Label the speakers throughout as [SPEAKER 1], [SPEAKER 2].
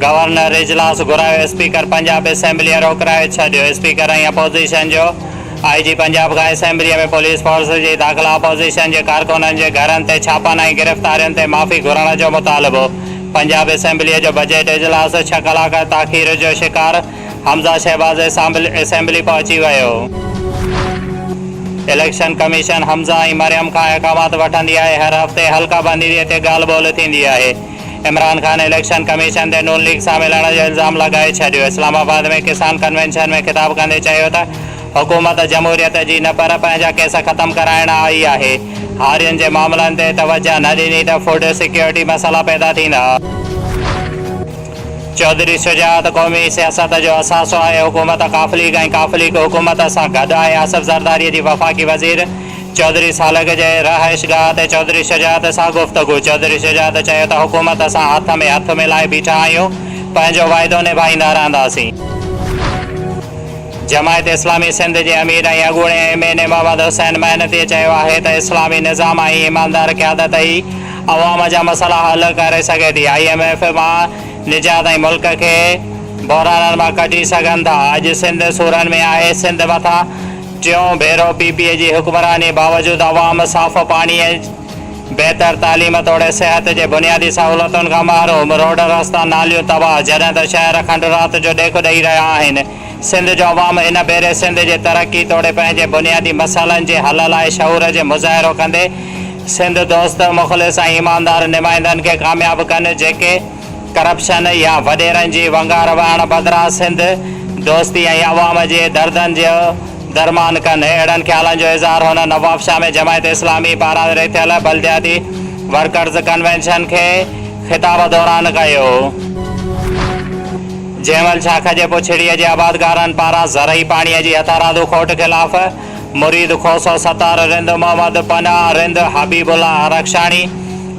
[SPEAKER 1] Governor اجلاس گهرايو، speaker Punjab اسيمبليء روڪرائي ڇڏيو، اسپيڪر ۽ اپوزيشن جو آء جي پنجاب کان اسيمبليء ۾ پوليس فورس جي داخلا، اپوزيشن جي ڪارڪنن جي گهرن تي ڇاپن ۽ گرفتارين تي معافي گهرڻ جو مطالبو، پنجاب اسيمبليء جو بجيٽ اجلاس ڇهه ڪلاڪ تاخير جو شڪار، حمزه شهباز اسيمبلي پهچي ويو. اليڪشن ڪميشن حمزه ۽ مريم کان اقامات وٺندي آهي، هر هفتي حلقه بندي تي ڳالهه ٻولهه ٿيندي آهي. عمران خان اليڪشن ڪميشن تي نون ليگ سان ملڻ جو الزام لڳائي ڇڏيو، اسلام آباد ۾ ڪسان ڪنوينشن ۾ خطاب ڪندي چيو ته حڪومت جمهوريت جي نه پر پنهنجا ڪيس ختم ڪرائڻ آئي آهي، هارين جي معاملن تي توجهه نه ڏني ته فوڊ سيڪيورٽي مسئلا پيدا ٿيندا. چوڌري شجاعت قومي سياست جو اثاثو آهي، حڪومت قافل ليگ ۽ قافل ليگ حڪومت سان گڏ آهي، آصف زرداري جي وفاقي وزير چوڌري سالڪ جي رهائشگاهه تي چوڌري شجاعت سان گفتگو، چوڌري شجاعت چيو ته حڪومت سان هٿ ۾ هٿ ملائي بيٺا آهيون، پنهنجو واعدو نڀائيندا رهنداسين. جماعت اسلامي سنڌ جي امير ۽ اڳوڻي M N A Muhammad Hussain محنتيء چيو آهي ته اسلامي نظام ۽ ايماندار قيادت ئي عوام جا مسئلا حل ڪري سگهي ٿي، آء ايم ايف مان نجات ۽ ملڪ کي بحرانن مان ڪڍي سگهن ٿا، اڄ سنڌ سورن ۾ آهي، سنڌ مٿان ٽيون ڀيرو پي پي اي جي حڪمراني باوجود عوام صاف پاڻي، بهتر تعليم توڙي صحت جي بنيادي سهولتن کان محروم، روڊ رستا ناليون تباهه، جڏهن ته شهر کنڊرات جو ڏيک ڏئي رهيا آهن. سنڌ جو عوام هن ڀيري سنڌ جي ترقي توڙي پنهنجي بنيادي مسئلن جي حل لاء شعور جي مظاهرو ڪندي سنڌ دوست، مخلص ۽ ايماندار نمائندن کي ڪامياب ڪن جيڪي ڪرپشن يا وڏيرن جي ونگار وهڻ بدران سنڌ دوستي ۽ عوام جي دردن جو درمان ڪن. اهڙن خيالن جو اظهار هن نوابشاهه ۾ جماعت اسلامي پاران رٿيل بلدياتي ورڪرز ڪنوينشن کي خطاب دوران ڪيو. جنهن مهل شاخ جي پڇڙيء جي آبادگارن پاران زرعي پاڻيء جي هٿارادو کوٽ خلاف مريد کوسو ستار رند، محمد پناهه رند، حبيب الله عرخشاڻي،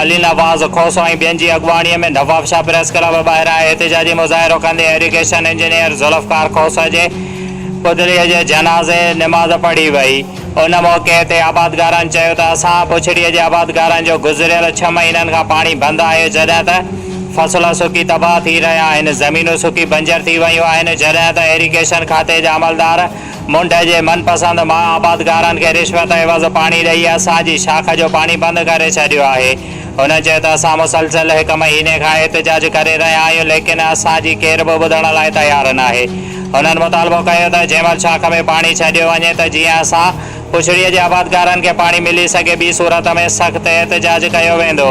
[SPEAKER 1] علي نواز کوسو ۽ ٻين جي اڳواڻيء ۾ نوابشاهه پريس ڪلب ٻاهران احتجاجي مظاهرو ڪندي ايريگيشن انجنيئر ذوالفقار کوسو جي پتليء جي جنازي نماز پڙهي وئي. ان موقعي تي آبادگارن چيو ته اسان بڇڙي جي آبادگارن جو گذريل ڇهه مهينن کان پاڻي بند آهي جڏهن ته فصل سڪي تباهه ٿي رهيا آهن زمينون سڪي بنجر ٿي ويون آهن جڏهن ته ايريگيشن کاتي جا عملدار منڍ جي من پسند مان آبادگارن کي رشوت عيوض پاڻي ڏئي اسان جي شاخ جو پاڻي بند ڪري ڇڏيو آهي هن چيو ته اسان مسلسل هڪ مهيني کان احتجاج ڪري رهيا آهيون ليڪن اسان جي ڪير به ٻڌڻ لاء تيار ناهي. هنن مطالبو ڪيو ته جيمل شاخ ۾ پاڻي ڇڏيو وڃي ته جيئن اسان پڇڙي جي آبادگارن کي پاڻي ملي سگهي ٻي صورت ۾ سخت احتجاج ڪيو ويندو.